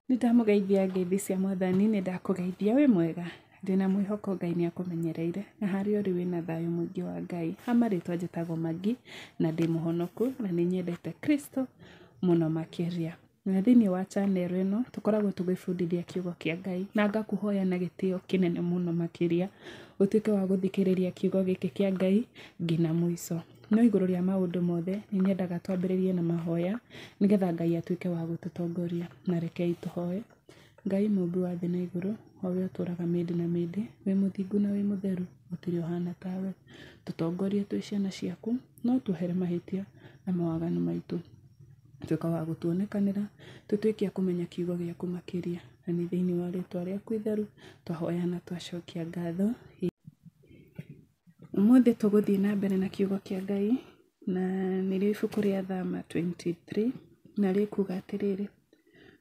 Nĩndamũgeithia ngeithi cia mwathani, nĩndakũgeithia wĩ mwega, ndĩna mwĩhoko Ngai nĩakũmenyereire, na harĩa ũrĩ wĩna thayũ mũingĩ wa Ngai, ha marĩtwa njĩtagwo Magi, na ndĩ mũhonoku, na nĩnyendete Kristo mũno makĩria. Na thĩiniĩ wa channel ĩno, tũkoragwo tũgĩbundithia kiugo kĩa Ngai, na ngakũhoya na gĩtĩo kĩnene mũno makĩria, ũtuĩke wa gũthikĩrĩria kiugo gĩkĩ kĩa Ngai nginya mũico. No igũrũ rĩa maũndũ mothe, nĩ nyendaga twambĩrĩrie na mahoya, nĩgetha Ngai atuĩke wa gũtũtongoria. Na rekei tũhoe. Ngai Mũmbi wa thĩ na igũrũ, o we ũtũũraga mĩndĩ na mĩndĩ, wĩ mũthingu na wĩ mũtheru, gũtirĩ ũhana tawe. Tũtongorie twĩ ciana ciaku, na ũtuohere mahĩtia na mawaganu maitũ. Tuĩka wa gũtuonekanĩra, tũtuĩke a kũmenya kiugo gĩaku makĩria. Na nĩ thĩiniĩ wa rĩĩtwa rĩaku itheru, twahoya na twacokia ngatho. Ũmũthĩ tũgũthiĩ na mbere na kiugo kĩa Ngai, na nĩ rĩo ibuku rĩa Thama 23, na rĩkuuga atĩrĩrĩ,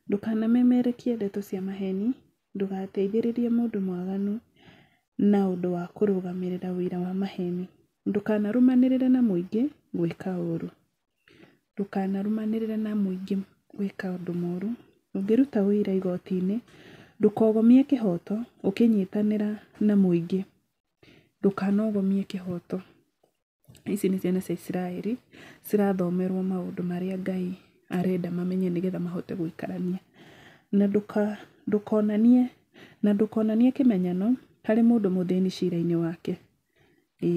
Ndũkanamemerekie ndeto cia maheni, ndũgateithĩrĩrie mũndũ mwaganu na ũndũ wa kũrũgamĩrĩra ũira wa maheni, ndũkanarũmanĩrĩre na mũingĩ gwĩka ũũru, ndũkanarũmanĩrĩre na mũingĩ gwĩka ũndũ mũũru, ũngĩruta ũira igoti-inĩ, ndũkogomie kĩhooto ũkĩnyitanĩra na mũingĩ. ndũkanogomie kĩhoto. Ici nĩ ciana cia Isiraeli cirathomerwo maũndũ marĩa Ngai arenda mamenye nĩ getha mahote gũikarania. Na ndũkonanie, na ndũkonanie kĩmenyano harĩ mũndũ mũthĩni cira-inĩ wake, ĩĩ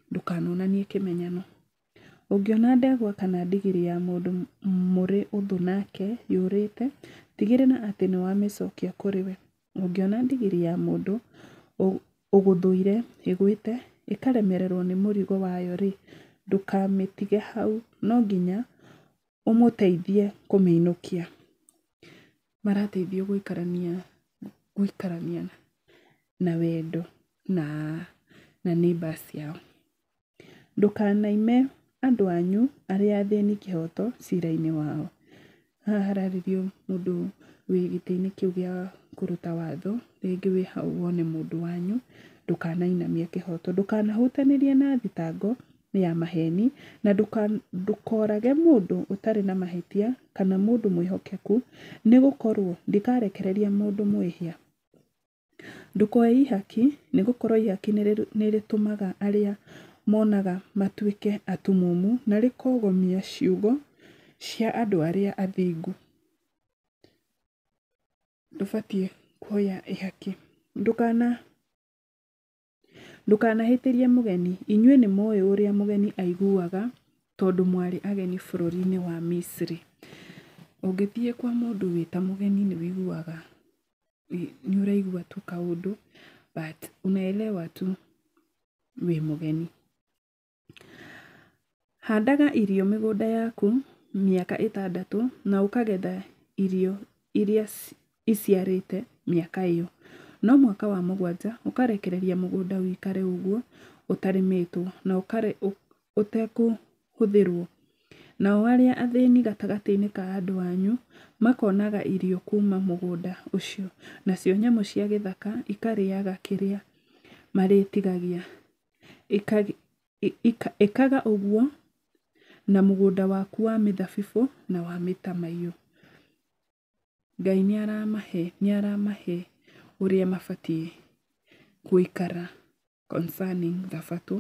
ndũkanonanie kĩmenyano. Ũngĩona ndegwa kana ndigiri ya mũndũ mũrĩ ũthũ nake yũrĩte, tigĩrĩra atĩ nĩ wamĩcokia kũrĩ we. Ũngĩona ndigiri ya mũndũ ũgũthũire ĩgwĩte ĩkaremererwo nĩ mũrigo wayo-rĩ, ndũkamĩtige hau, no nginya ũmũteithie kũmĩinũkia. Marateithio gũikarania, gũikarania na wendo na na neighbours ciao. Ndũkanaime andũ anyu arĩa athĩni kĩhoto cira-inĩ wao. Haha hararĩrio mũndũ wĩ gĩtĩ-inĩ kĩu gĩa kũruta watho, rĩngĩ wĩ hau wone mũndũ wanyu, ndũkanainamie kĩhoto. Ndũkanahutanĩrie na thitango ya maheni, na ndũkorage mũndũ ũtarĩ na mahĩtia, kana mũndũ mwĩhokeku, nĩ gũkorwo ndikarekereria mũndũ mwĩhia. Ndũkoe ihaki, nĩ gũkorũo ihaki nĩ rĩtũmaga arĩa monaga matuĩke atumumu, na rĩkogomia ciugo cia andũ arĩa athingu. Ndũbatiĩ kuoya ihaki. Ndũkana. Ndũkanahĩtĩrie mũgeni. Inyuĩ nĩ mũũĩ ũrĩa mũgeni aiguaga tondũ mwarĩ ageni bũrũri-inĩ wa Misiri. Ũngĩthiĩ kwa mũndũ wĩ ta mũgeni nĩ ũiguaga, nĩ ũraigua tu kaũndũ but unaelewa tu wĩ mũgeni. Handaga irio mĩgũnda yaku mĩaka ĩtandatũ na ũkagetha irio iria iciarĩte mĩaka ĩyo. No mwaka wa mũgwanja ũkarekereria mũgũnda ũikare ũguo ũtarĩmĩtwo na ũtekũhũthĩrwo. Nao arĩa athĩni gatagatĩ-inĩ ka andũ anyu makonaga irio kuma mũgũnda ũcio, nacio nyamũ cia gĩthaka ikarĩaga kĩrĩa marĩtigagia. Ĩkaga ũguo na mũgũnda waku wa mĩthabibũ na wa mĩtamaiyũ. Ngai nĩ aramahe ũrĩa mabatiĩ gũikara concerning thabatũ.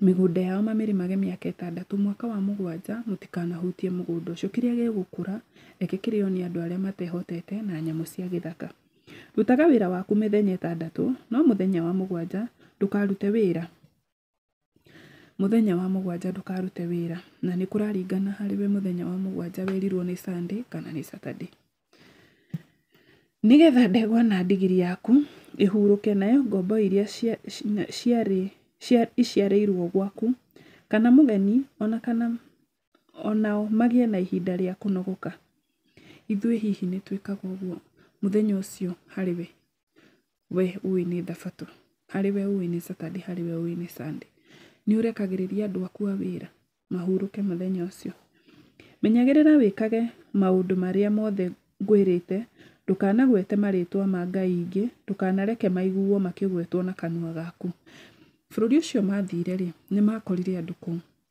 Mĩgũnda yao mamĩrĩmage mĩaka ĩtandatũ, mwaka wa mũgwanja mũtikanahutie mũgũnda ũcio. Kĩrĩa gĩgũkũra reke kĩrĩo nĩ andũ arĩa matehotete na nyamũ cia gĩthaka. Rutaga wĩra waku mĩthenya ĩtandatũ, no mũthenya wa mũgwanja ndũkarute wĩra. Mũthenya wa mũgwanja ndũkarute wĩra. Na nĩ kũraringana harĩ we mũthenya wa mũgwanja werirwo nĩ Sunday kana nĩ Saturday. Nĩgetha ndegwa na ndigiri yaku ĩhurũke, nayo ngombo irĩa iciarĩirwo gwaku, kana mũgeni, ona kana o nao magĩe na ihinda rĩa kũnogoka. Ithuĩ hihi nĩ twĩkaga ũguo mũthenya ũcio harĩ we? We ũĩ nĩ thabatũ, harĩ we ũĩ nĩ Saturday, harĩ we ũĩ nĩ Sunday. Nĩ ũrekagĩrĩria andũ aku a wĩra mahurũke mũthenya ũcio? Menyagĩrĩra wĩkage maũndũ marĩa mothe ngwĩrĩte, ndũkanagwete marĩĩtwa ma ngai ingĩ, ndũkanareke maiguo makĩgwetwo na kanua gaku. Bũrũri ũcio maathire-rĩ, nĩ maakorire andũ kũ?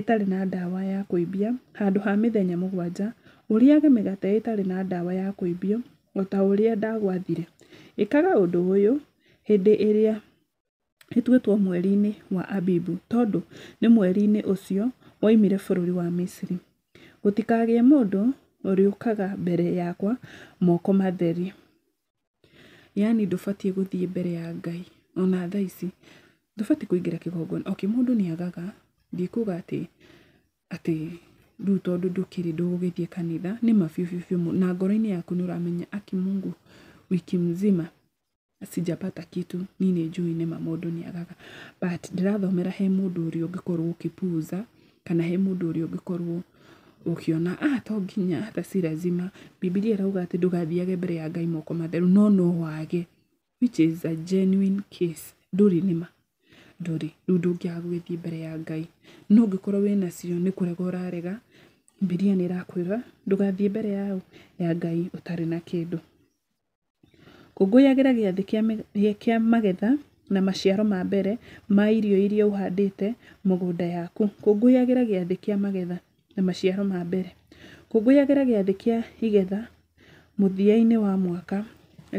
ĩtarĩ na ndawa ya kũimbia handũ ha mĩthenya mũgwanja, ũrĩage mĩgate ĩtarĩ na ndawa ya kũimbio, o ta ũrĩa ndagwathire. Ĩkaga ũndũ ũyũ hĩndĩ ĩrĩa ĩtuĩtwo mweri-inĩ wa Abibu, tondũ nĩ mweri-inĩ ũcio woimire bũrũri wa Misiri. Gũtikagĩe mũndũ ũrĩũkaga mbere yakwa moko matheri. Yaani ndũbatiĩ gũthiĩ mbere ya Ngai ona thaa ici. Ndũbatiĩ kũingĩra kĩgongona. Okay mũndũ nĩ agaga, ndikuga atĩ atĩ rĩu tondũ ndũkĩrĩ ndũgũgĩthiĩ kanitha, nĩ ma biũ biũ biũ na ngoro-inĩ yaku nĩ ũramenya aki Mungu wiki mzima sijapata kitu niĩ nĩ njũĩ nĩ ma mũndũ nĩ agaga. But ndĩrathomera he mũndũ ũrĩa ũngĩkorwo ũgĩ puuza. kana he mũndũ ũrĩa ũngĩkorwo ũkĩona ah to nginya hata si lazima. Bibilia ĩrauga atĩ ndũgathiage mbere ya Ngai moko matheru no no wage which is a genuine case. Ndũrĩ nĩma? Ndũrĩ. Rĩu ndũngĩaga gũgĩthiĩ mbere ya Ngai. No ũngĩkorwo wĩnacio nĩ kũrega ũrarega, Bibilia nĩ ĩrakwĩra ndũgathiĩ mbere ya ũ? Ya Ngai ũtarĩ na kĩndũ. Kũngũyagĩra gĩathĩ kĩa magetha na maciaro ma mbere ma irio iria ũhandĩte mũgũnda yaku. Kũngũyagĩra gĩathĩ kĩa magetha na maciaro ma mbere. Kũngũyagĩra gĩathĩ kĩa igetha mũthia-inĩ wa mwaka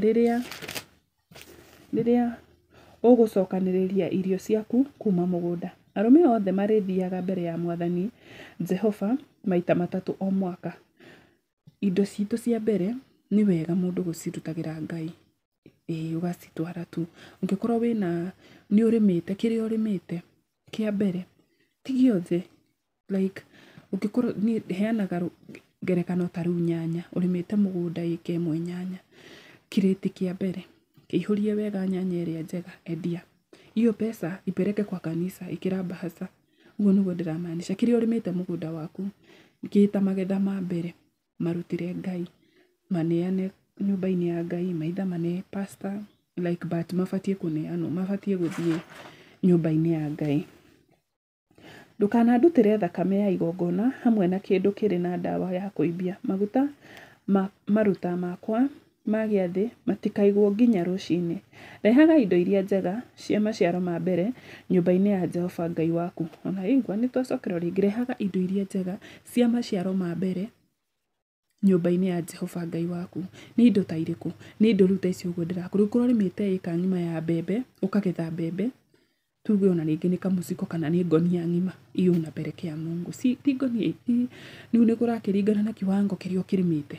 rĩrĩa ũgũcokanĩrĩria irio ciaku kuma mũgũnda. Arũme othe marĩthiaga mbere ya Mwathani Jehova maita matatũ o mwaka. Indo citũ cia mbere nĩ wega mũndũ gũcirutagĩra Ngai, ĩĩ ũgacitwara tu. Ũngĩkorwo wĩna, nĩ ũrĩmĩte, kĩrĩa ũrĩmĩte kĩa mbere, ti gĩothe like ũngĩkorwo, niĩ heanaga ngerekano ta rĩu nyanya, ũrĩmĩte mũgũnda ĩka ĩmwe nyanya, kĩrĩti kĩa mbere kĩihũrie wega nyanya ĩrĩa njega, endia. Iyo mbeca ipeleke kwa kanisa, ĩkĩra mbahaca. ũguo nĩguo ndĩra maanisha. Kĩrĩa ũrĩmĩte mũgũnda waku kĩ ta magetha ma mbere marutĩre Ngai, maneane nyũmba-inĩ ya Ngai, maithe mane pastor like but mabatiĩ kũneanwo, mabatiĩ gũthiĩ nyũmba-inĩ ya Ngai. Ndũkanandutĩre thakame ya igongona hamwe na kĩndũ kĩrĩ na ndawa ya kũimbia maguta ma maruta makwa. ma gĩathĩ matikaigwo nginya rũcinĩ. Rehaga indo iria njega cia maciaro ma mbere nyũmba-inĩ ya Jehova Ngai waku. O na rĩu, nĩtwacokera o rĩngĩ, rehaga indo iria njega cia maciaro ma mbere nyũmba-inĩ ya Jehova Ngai waku. Nĩ indo ta irĩkũ? Nĩ indo rĩu ta ici ũguo ndĩrakũria. Rĩu korũo ũrĩmĩte ĩka ng'ima ya mbembe, ũkagetha mbembe, tuge ona rĩngĩ nĩ kamũciko kana nĩ ngũnia ng'ima iyo unapelekea Mungu si ti ngũnia ti rĩu nĩ kũrakĩringana na kiwango kĩrĩa ũkĩrĩmĩte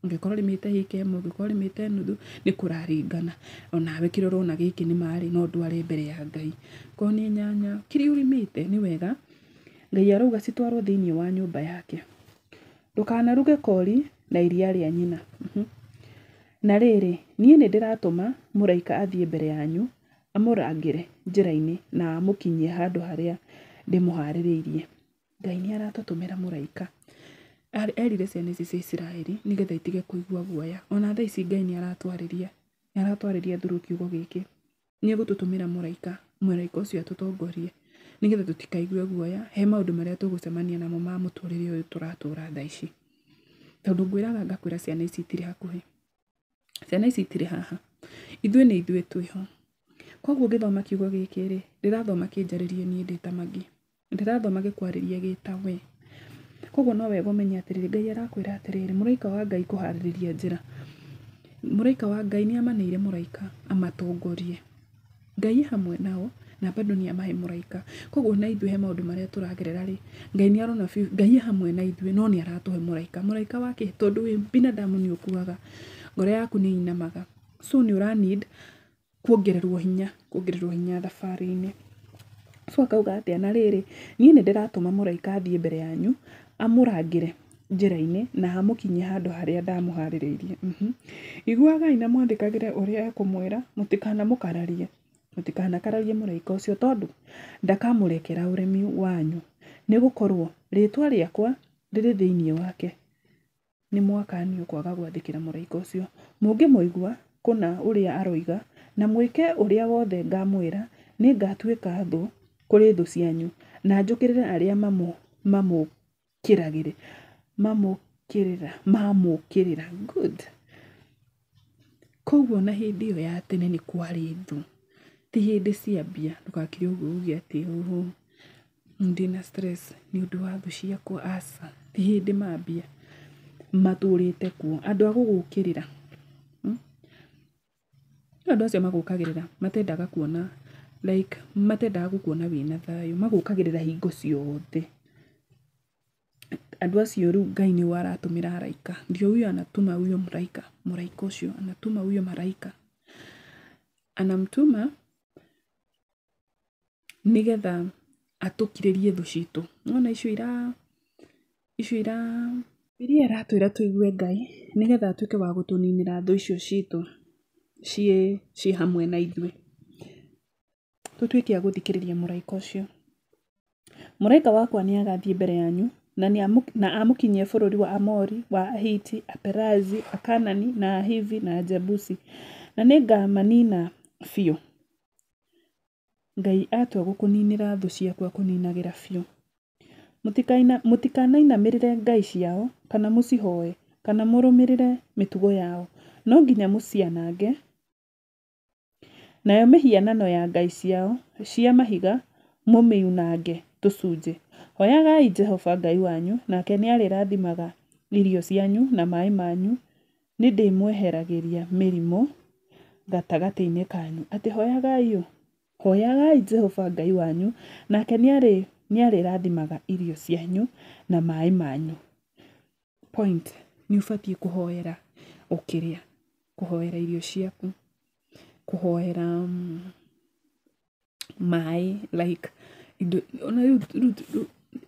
ũngĩkorwo ũrĩmĩte ĩka ĩmwe ũngĩkorwo ũrĩmĩte nuthu nĩ kũraringana onawe kĩrĩa ũrona gĩkĩ nĩ marĩ no ndware mbere ya Ngai korwo nĩ nyanya kĩrĩa ũrĩmĩte nĩ wega Ngai arauga citwarwo thĩinĩ wa nyũmba yake ndũkanaruge kori na iria rĩa nyina na rĩrĩ niĩ nĩ ndĩratũma mũraika athiĩ mbere yanyu amũrangĩre njĩra-inĩ na amũkinyie handũ harĩa ndĩmũharĩrĩirie. Ngai nĩ aratũtũmĩra mũraika. Erire ciana ici cia Isiraeli nĩgetha itige kũigua guoya. Ona thaa ici Ngai nĩ aratwarĩria, nĩ aratwarĩria through kiugo gĩkĩ. Nĩ egũtũtũmĩra mũraika, mũraika ũcio atũtongorie nĩgetha tũtikaigue guoya he maũndũ marĩa tũgũcemania namo ma mũtũrĩre ũyũ tũratũra thaa ici. Tondũ ngwĩraga ngakwĩra ciana ici itirĩ hakuhĩ. Ciana ici itirĩ haha. Ithuĩ nĩ ithuĩ twĩ ho. Kwoguo ngĩthoma kiugo gĩkĩ rĩ, ndĩrathoma kĩnjarĩrie niĩ ndĩ ta Magi. Ndĩrathoma gĩkwarĩrie gĩ ta we. Kwoguo no wega ũmenye atĩrĩrĩ, Ngai arakwĩra atĩrĩrĩ, mũraika wa Ngai kũharĩrĩria njĩra. Mũraika wa Ngai nĩ amanĩire mũraika amatongorie. Ngai e hamwe nao na bado nĩ amahe mũraika. Koguo ona ithuĩ he maũndũ marĩa tũragerera rĩ, Ngai nĩ arona biũ, Ngai e hamwe na ithuĩ no nĩ aratũhe mũraika. Mũraika wa kĩ? Tondũ wĩ binadamu nĩ ũkuaga, ngoro yaku nĩ ĩinamaga. So nĩ ũra need kuongererwo hinya, kuongererwo hinya thabarĩ-inĩ. So akauga atĩa? Na rĩrĩ, niĩ nĩ ndĩratũma mũraika athiĩ mbere yanyu amũrangĩre. njĩra-inĩ, na hamũkinyia handũ harĩa ndamũharĩrĩirie. Iguagai na mwathĩkagĩre ũrĩa ekũmwĩra, mũtikanamũkararie, mũtikanakararie mũraika ũcio tondũ ndakamũrekera ũremi wanyu, nĩ gũkorwo rĩtwa rĩakwa rĩrĩ thĩiniĩ wake. Nĩ mwakanio kwaga gwathĩkĩra mũraika ũcio. Mũngĩmũigua kũna ũrĩa aroiga, na mwĩke ũrĩa wothe ngamwĩra, nĩ ngatuĩka thũ kũrĩ thũ cianyu, na njũkĩrĩre arĩa mamũ. mamũkĩragĩrĩra, mamũkĩrĩra, mamũkĩrĩra, good. Koguo ona hĩndĩ ĩyo ya tene nĩ kwarĩ ndũ, ti hĩndĩ cia mbia, ndũgakĩre ũguo uge atĩ ũhũ, ndĩna stress nĩ ũndũ wa thũ ciakwa, aca, ti hĩndĩ mambia matũrĩte kuo. Andũ a gũgũkĩrĩra, Rĩu andũ acio magũkagĩrĩra matendaga kuona like matendaga gũkuona wĩna thayũ, magũkagĩrĩra hingo ciothe. Andũ acio rĩu Ngai nĩo aratũmĩra araika. Ndio huyo anatuma huyo mraika, mũraika ũcio anatuma huyo maraika. Anamtuma nĩgetha atũkirĩrie thũ citũ. Nĩwona icio ira, icio ira, iria aratwĩra tũigue Ngai, nĩgetha atuĩke wa gũtũninĩra thũ icio citũ ciĩ, ciĩ hamwe na ithuĩ. Tũtuĩke a gũthikĩrĩria mũraika ũcio. Mũraika wakwa nĩagathiĩ mbere yanyu, na nĩ, na amũkinyie bũrũri wa Aamori, wa Ahiti, Aperizi, Akaanani, na Ahivi, na Ajebusi, na nĩngamanina biũ. Ngai atua gũkũninĩra thũ ciaku akũninagĩra biũ. Mũtikanainamĩrĩre ngai ciao kana mũcihoe kana mũrũmĩrĩre mĩtugo yao. No nginya mũcianange, nayo mĩhianano ya ngai ciao cia mahiga mũmĩunange tũcunjĩ. Hoyagai Jehova Ngai wanyu nake nĩ arĩrathimaga irio cianyu na maĩ manyu Nĩndĩmweheragĩria mĩrimũ gatagatĩ-inĩ kanyu. Atĩ hoyagai ũ? Hoyagai Jehova Ngai wanyu, nake nĩarĩrathimaga irio cianyu na maĩ manyu. Point, nĩũbatiĩ kũhoera ũkĩrĩa, kũhoera irio ciaku, kũhoera. maĩ like indo ona rĩu rĩu rĩu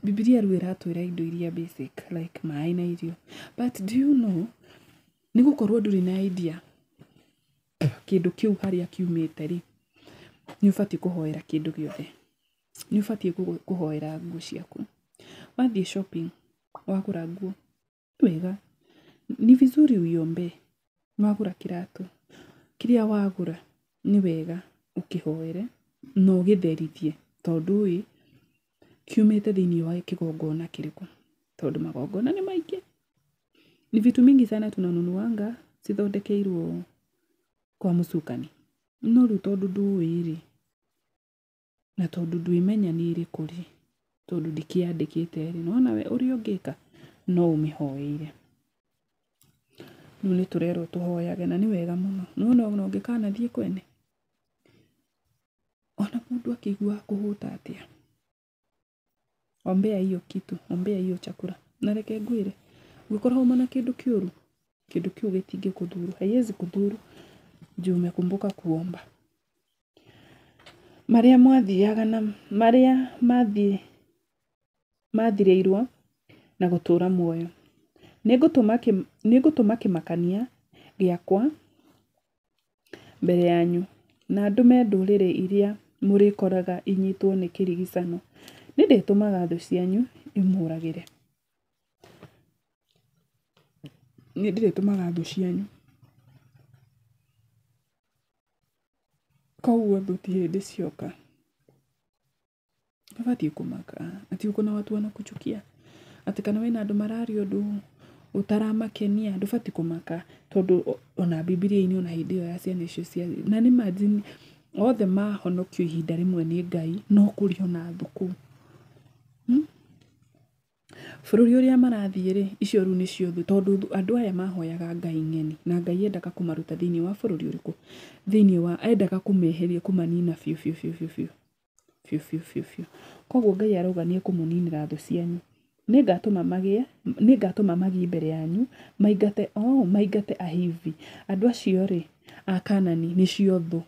bibilia rĩu ĩratwĩra indo iria basic like maĩ na irio but do you know nĩ gũkorwo ndũrĩ na idea kĩndũ kĩu harĩa kiumĩte rĩ nĩ ũbatiĩ kũhoera kĩndũ gĩothe nĩ ũbatiĩ kũhoera nguo ciaku wathiĩ shopping wagũra nguo Wega, ni vizuri uiombee. Wagũra kĩratũ, kĩrĩa wagũra nĩ wega ũkĩhoere na ũgĩtherithie tondũ ĩ, kiumĩte thĩinĩ wa kĩgongona kĩrĩkũ? Tondũ magongona nĩ maingĩ. Ni vitu mingi sana tunanunuanga cithondekeirwo kwa msukani. No rĩu tondũ ndũĩ rĩ, Na tondũ ndũĩ menya nĩ ĩrĩkũ rĩ, tondũ ndikĩyandĩkĩte rĩ, nĩ wona we ũrĩa ũngĩka no ũmĩhoeire. Rĩu nĩ tũrerwo tũhoyage na nĩ wega mũno. Nĩ wona ona ũngĩkanathiĩ kwene, ona mũndũ akĩigua akũhũta atĩa, ombea hiyo kitu ombea hiyo chakula na reke ngwĩre ũngĩkorwo uma na kĩndũ kĩũru kĩndũ kĩu gĩtingĩ kũthuru haiwezi kũthuru juu umekumbuka kuomba marĩa mwathiaga na marĩa mathiĩ mathirĩirwo na gũtũũra muoyo nĩngũtũma kĩ- nĩngũtũma kĩmakania gĩakwa mbere yanyu, na ndũme ndũrĩrĩ iria mũrĩkoraga inyitwo nĩ kĩrigicano, nĩ ndĩtũmaga thũ cianyu imũragĩre, nĩ ndĩrĩtũmaga thũ cianyu, koguo thũ ti hĩndĩ cioka. Ndũbatiĩ kũmaka atĩ ũkũ na watu wanakuchukia, atĩ kana wĩna andũ mararia ũndũ ũtaramakenia, ndũbatiĩ kũmaka tondũ ona Bibilia-inĩ ona hĩndĩ ĩyo ya ciana icio cia, na nĩ ma jini othe mahonokio ihinda rĩmwe nĩ Ngai no kũrĩ ona thũkũ. Bũrũri ũrĩa marathiĩ rĩ, icio rĩu nĩcio thũ tondũ andũ aya mahoyaga Ngai ng'eni na Ngai endaga kũmaruta thĩinĩ wa bũrũri ũrĩkũ? Thĩinĩ wa, endaga kũmeheria kũmanina biũ biũ biũ. Biũ biũ biũ biũ. Koguo Ngai arauga nĩ ekũmũninĩra thũ cianyu. Nĩngatũma magĩe, nĩngatũma magĩe mbere yanyu, maingate, oo, maingate Ahivi. Andũ acio-rĩ, Akanaani, nĩcio thũ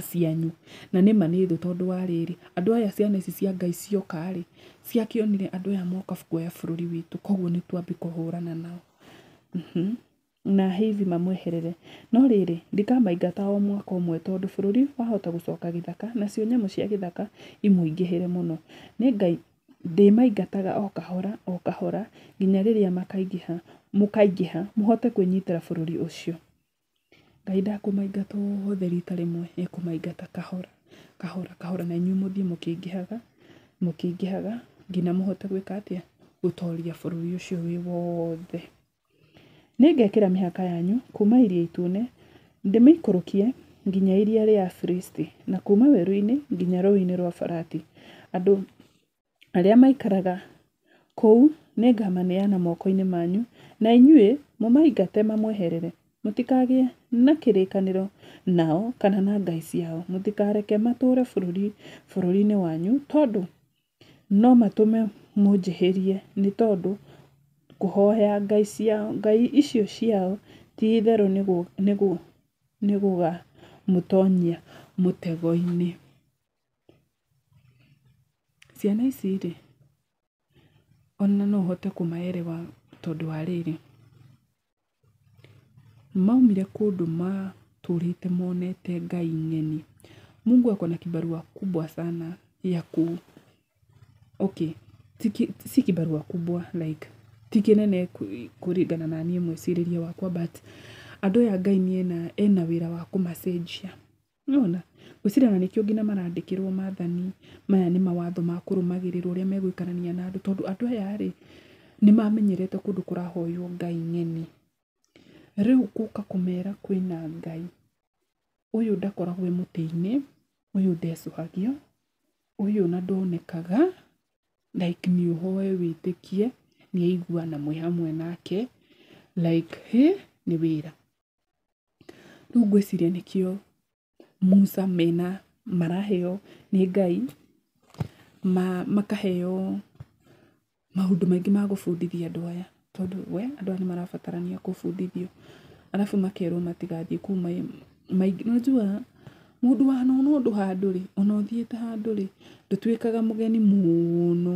cianyu. Na nĩ ma nĩ thũ tondũ wa rĩrĩ, andũ aya ciana ici cia Ngai cioka-rĩ, ciakĩonire andũ aya moka kuoya bũrũri witũ, koguo nĩtwambi kũhũrana nao. na Ahivi mamweherere. No rĩrĩ, ndikamaingata o mwaka ũmwe, tondũ bũrũri wahota gũcoka gĩthaka, nacio nyamũ cia gĩthaka imũingĩhĩre mũno. Ndĩmaingataga o kahora o kahora nginya rĩrĩa mũkaingĩha mũhote kwĩnyitĩra bũrũri ũcio. Ngai ndakũmaingata othe rita rĩmwe, ekũmaingata kahora kahora kahora na inyuĩ mũthiĩ mũkĩingĩhaga mũkĩingĩhaga nginya mũhote gwĩka atĩa? Gũtoria bũrũri ũcio wĩ wothe. Nĩngekĩra mĩhaka yanyu kuuma Iria Itune ndĩmĩikũrũkie nginya iria rĩa Afilisti, na kuuma werũ-inĩ nginya Rũũĩ-inĩ rwa Farati. Andũ arĩa maikaraga kũu nĩngamaneana moko-inĩ manyu, na inyuĩ mũmaingate mamweherere. Mũtikagĩe na kĩrĩkanĩro nao kana na ngai ciao. Mũtikareke matũũre bũrũri-inĩ wanyu, tondũ no matũme mũnjĩhĩrie nĩ tondũ kũhoya ngai ciao, ngai icio ciao ti itherũ nĩ gũgamũtonyia mũtego-inĩ. Ciana ici rĩ, ona no ũhote kũma elewa tondũ wa rĩrĩ. Maumire kũndũ matũrĩte monete Ngai ng'eni. Mungu ako na kibarua kubwa sana ya ku, okay, si kibarua kubwa like ti kĩnene kũringana na niĩ mwĩcirĩrie wakwa but andũ aya Ngai ena wĩra wa kũmacenjia. Nĩwona? Ngwĩciria ona nĩkĩo nginya marandĩkĩrwo maathani, maya nĩ mawatho ma kũrũmagĩrĩrwo ũrĩa megũikarania na andũ tondũ andũ aya rĩ, nĩ mamenyerete kũndũ kũrahoywo ngai ng'eni. Rĩu gũka kũmera kwĩna Ngai, ũyũ ndakoragwo e mũtĩ-inĩ, ũyũ ndecũhagio, ũyũ ona ndonekaga, like nĩ ũhoe wĩtĩkie, nĩ aiguana mwĩ hamwe nake, like hĩ, nĩ wĩra. Rĩu ngwĩciria nĩkĩo Musa mena maraheo nĩ Ngai makaheo maũndũ maingĩ ma gũbundithia andũ aya tondũ we andũ aya nĩmarabatarania kũbundithio. Arabu makerwo matigathiĩ kũu maingĩ. Nĩwajua mũndũ wanona ũndũ handũ-rĩ, ona ũthiĩte handũ-rĩ, ndũtuĩkaga mũgeni mũno.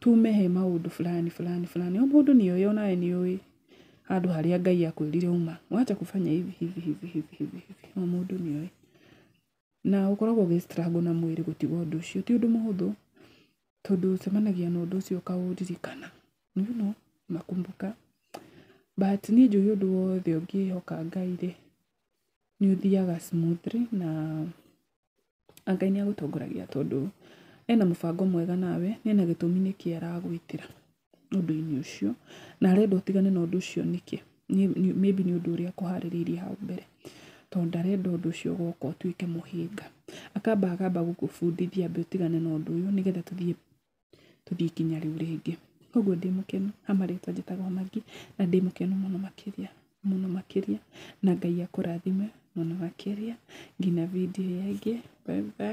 tume he maũndũ fulani fulani fulani. O mũndũ nĩ oĩ onawe nĩ ũĩ handũ harĩa Ngai akwĩrire uma. Wacha kufanya hivi hivi hivi hivi hivi hivi. O mũndũ nĩ oĩ. Na ũkoragwo ũgĩ struggle na mwĩrĩ gũtiga ũndũ ũcio. Ti ũndũ mũhũthũ tondũ ũcemanagia na ũndũ ũcio ũkaũririkana. You know, unakumbuka. But niĩ njũĩ ũndũ wothe ũngĩhoka Ngai-rĩ, nĩ ũthiaga smoothly na... Ngai nĩ agũtongoragia tondũ ena mũbango mwega nawe na ena gĩtũmi nĩkĩ aragwĩtĩra ũndũ-inĩ ũcio, na arenda ũtigane na ũndũ ũcio nĩkĩ? Maybe nĩ ũndũ ũrĩa akũharĩrĩirie hau mbere, tondũ ndarenda ũndũ ũcio ũgoka ũtuĩke mũhĩnga. Akamba akamba gũkũbundithia ambe ũtigane na ũndũ ũyũ nĩgetha tũthiĩ tũthiĩ kinya rĩu rĩngĩ. Koguo ndĩ mũkenu na marĩtwa njĩtagwo Magĩ na ndĩ mũkenu mũno makĩria mũno makĩria na Ngai akũrathime mũno makĩria nginya video ĩrĩa ĩngĩ. Bye bye.